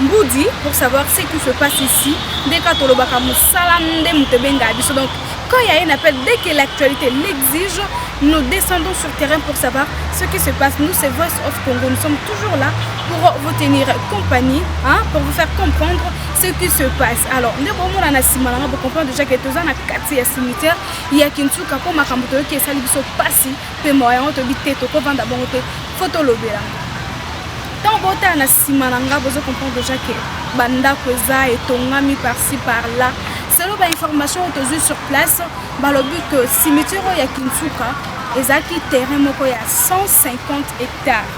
Mbudi pour savoir ce qui se passe ici nde kaka tolobaka mosala nde moto ebengaka biso donc quand il y a un appel dès que l'actualité l'exige nous descendons sur terrain pour savoir ce qui se passe nous c'est Voice of Congo nous sommes toujours là pour vous tenir compagnie hein, pour vous faire comprendre ce qui se passe alors nde bomona na nsima nanga bocomprendre déjà ke toza na kati ya cimetière ya kinsuka mpo makambo toyoki esali biso mpasi mpe mawa yango toyebi te tokovanda bongo te fo tolobela ntango botala na nsima na ngai bozo comprendre deja ke bandako eza etongami parci par là selo bainformation oyo tozwi sur place balobi ke cimetiere oyo ya kinsuka ezalaki terrain moko ya 150 hectares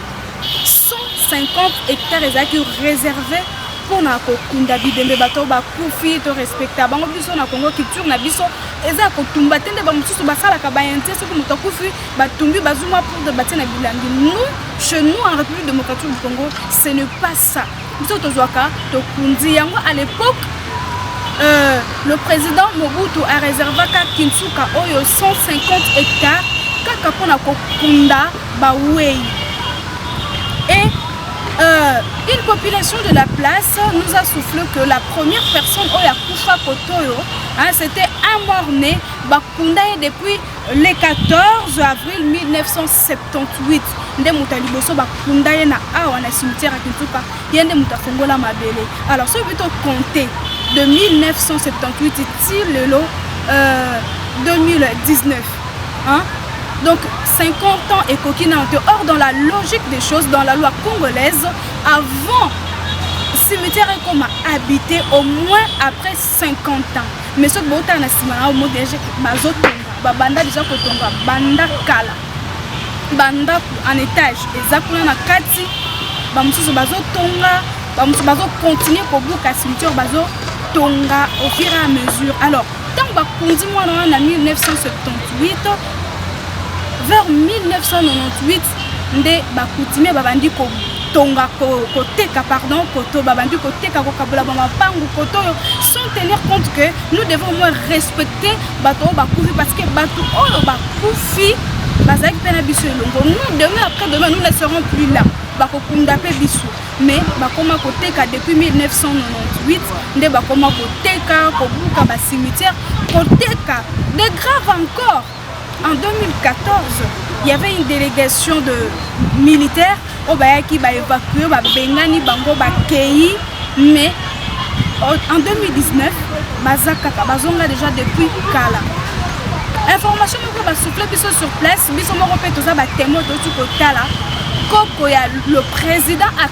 150 hectares ezalaki réservé mpona kokunda bibembe bato bakufi to respecta bango biso na congo culture na biso eza ya kotumba te nde bamosusu basalaka baintie soki moto akufi batumbi bazwi mwa poudre batie na bilangi nous chez nous en république démocratique du congo ce ne pas ça biso tozwaka tokundi yango à l'époque euh, le président mobutu areservaka kinsuka oyo 150 hectares kaka mpo na kokunda bawei et Euh, une population de la place nous a soufflé que la première personne oyo akufa kotoyo Hein, c'était un mort-né, bakunda ye depuis le 14 avril 1978 nde moto ya liboso bakunda ye na awa na cimetière ya kintuka ye nde moto afongola mabele alors soki bito compte de 1978 ti lelo euh, 2019 hein? donc 50 ans ekoki nano te or dans la logique des choses dans la loi congolaise avant cimetière ekoma habité au moins après 50 ans mais soki botala na nsima na omo deja bazotonga babanda deja kotonga banda kala bandako en étage eza kuna na kati bamosusu bazotonga bamosusu bazokontinue kobuka cimetière bazotonga au fur et à mesure alors ntango bakundi mwana wana na 1978 vers 1998 nde ba coutumier babandi ko tonga koteka pardon koto babandi koteka kokabola bamapangu koto oyo sans tenir compte que nous devons au moins respecter bato oyo bakufi parce que bato oyo bakufi bazalaki mpe na biso elongo nous demain après demain nous ne serons plus là bakokunda mpe biso mais bakoma koteka depuis 1998 nde bakoma koteka kobuka bacimetière koteka de grave encore En 2014, il y avait une délégation de militaires au Bayaki, ba évacué, ba Bengani, Bango, ba Kei, mais en 2019, Bazakaka, Bazonga déjà depuis Kala. Information moko ba soufflé biso sur place, biso moko pe toza ba témoins totu kotala koko ya le président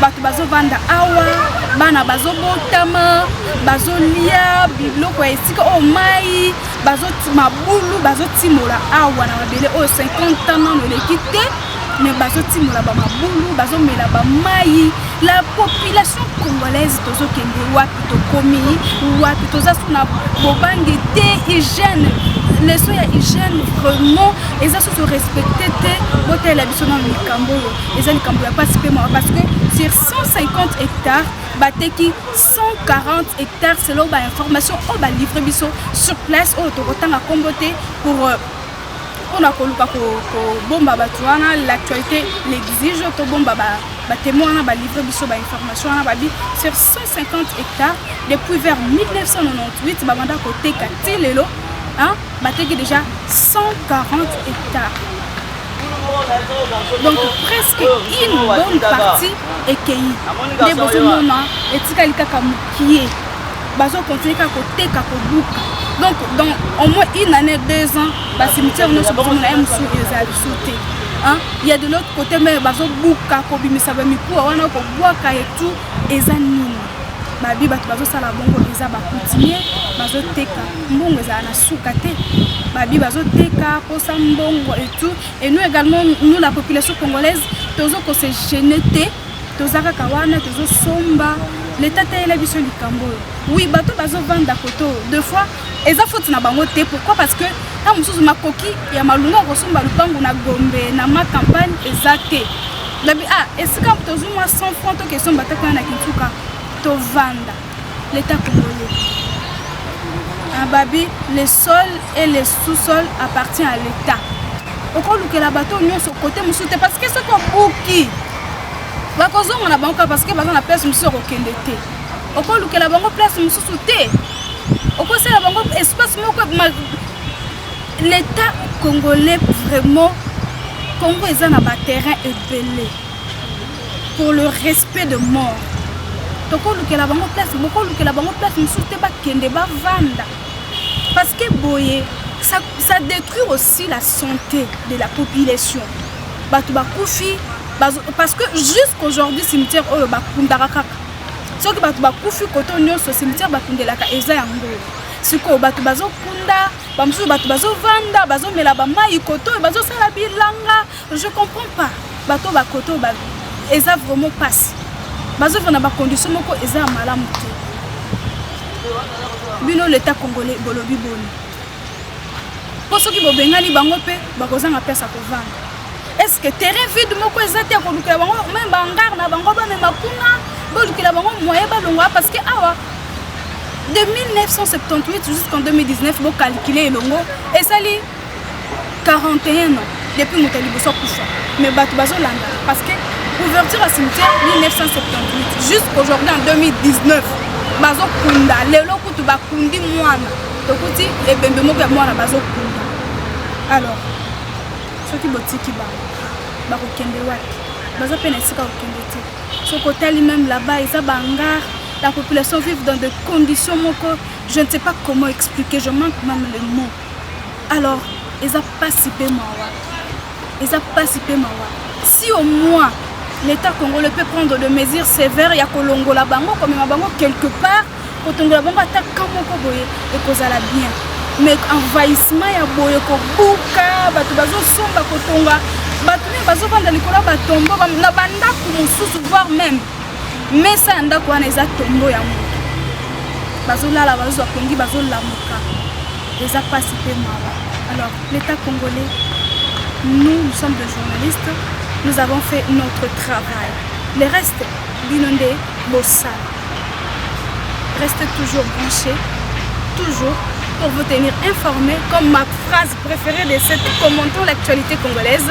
bato bazovanda awa bana bazobotama bazolia biloko ya esika oyo mai mabulu bazotimola awa na mabele oyo 50 ans nano eleki te me bazotimola bamabulu bazomela bamai la population congolaise tozokende wapi tokomi wapi toza so na bobange te hygiène leso ya hygiène vraiment eza susu respecte te botala biso na likambo oyo eza likambo ya mpasi mpe mawa parce que sur 150 hectares bateki 140 hectares selon bainformation oyo balivre biso sur place oyo tokotanga nkombo te pour euh, mpona koluka kobomba bato wana l'actualité l'exige tobomba batemo wana balivre biso bainformation wana babi sur 150 hectares depuis vers 1998 babanda koteka ti lelo bateki déjà 140 hectares donc presque une bonne partie ekei nde bozomona etikali kaka mokie bazokontinue kaka koteka kobuka donc dans au moins une année deux ans bacimetière nyonso bozomona ye mosusu eza biso te ya de l'autre côté meme bazobuka kobimisa bamikuwa wana kobwaka etu eza nini babi bato bazosala bongo eza bakutimie bazoteka mbongo ezala na suka te babi bazoteka posa mbongo et tout et nous également nous la population congolaise tozo ko se gêner te toza kaka wana tozosomba leta teyela biso likambo oyo oui bato bazovanda koto de fois eza foti na bango te pourquoi parce que ntango mosusu makoki ya malunga ya kosomba lupango na gombe na ma campagne eza te lobi ah esika tozwi mwa 100 franc tokesomba ata kuna na kintuka tovanda L'Etat congolais ababi le sol et le sous-sol appartient à l'Etat. okolukela bato nyonso kote mosusu te parce que soki obuki bakozonga na bango kaka parce que baza na place mosusu ya kokende te okolukela bango place mosusu te okosala bango espace moko l'état congolais vraiment congo eza na baterrain ebele pour le respect de mort tokolukela bango place bokolukela bango place mosusu te bakende bavanda parce que boye ça, ça détruit aussi la santé de la population bato bakufi parce que jusqu'aujourd'hui cimetière oyo bakundaka kaka soki bato bakufi koto nyonso cimetière bakundelaka eza yango sikoyo bato bazokunda bamosusu bato bazovanda bazomela bamai koto oyo bazosala bilanga Je comprends pas bato ba koto ba eza vraiment pasi bazovanda na bacondition moko eza ya malamu te bino leta congolais bolobi boni mpo soki bobengani bango mpe bakozanga place ya kovanda estce terrain vide moko eza te ya kolukela bango meme bangare na bango bamema kuna bolukela bango moyen balongwa parce que awa de 1978 jusqu'en 2019 bokalkile elongo esali 41 ans depuis moto ya liboso akufa mais bato bazolanda parce que ouverture ya cimetière 1978 jusqu'aujourd'hui en 2019 bazokunda lelo kutu bakundi mwana tokuti ebembe moko ya mwana bazokunda alors soki botiki bango bakokende wapi baza mpe na esika kokende te soki otali meme là-bas eza bangar la population vive dans des conditions moko je ne sais pas comment expliquer je manque même le mot alors eza pasi pe mawa eza pasi pe mawa si au moins l'état congolais peut prendre de mesures sévères ya kolongola bango komema bango quelque part kotongola bango ata ka moko boye ekozala bien mais envahissement ya boye kobuka bato bazosomba kotonga bato nini bazovanda likolo ya batombo na bandako mosusu voire même mesa ya ndako wana eza tombo ya moto bazolala bazozwa pongi bazolamuka eza mpasi mpe mawa alors l'état congolais nous nous sommes de journalistes nous avons fait notre travail le reste bino nde bosala reste toujours branché toujours pour vous tenir informé comme ma phrase préférée de cette commentant l'actualité congolaise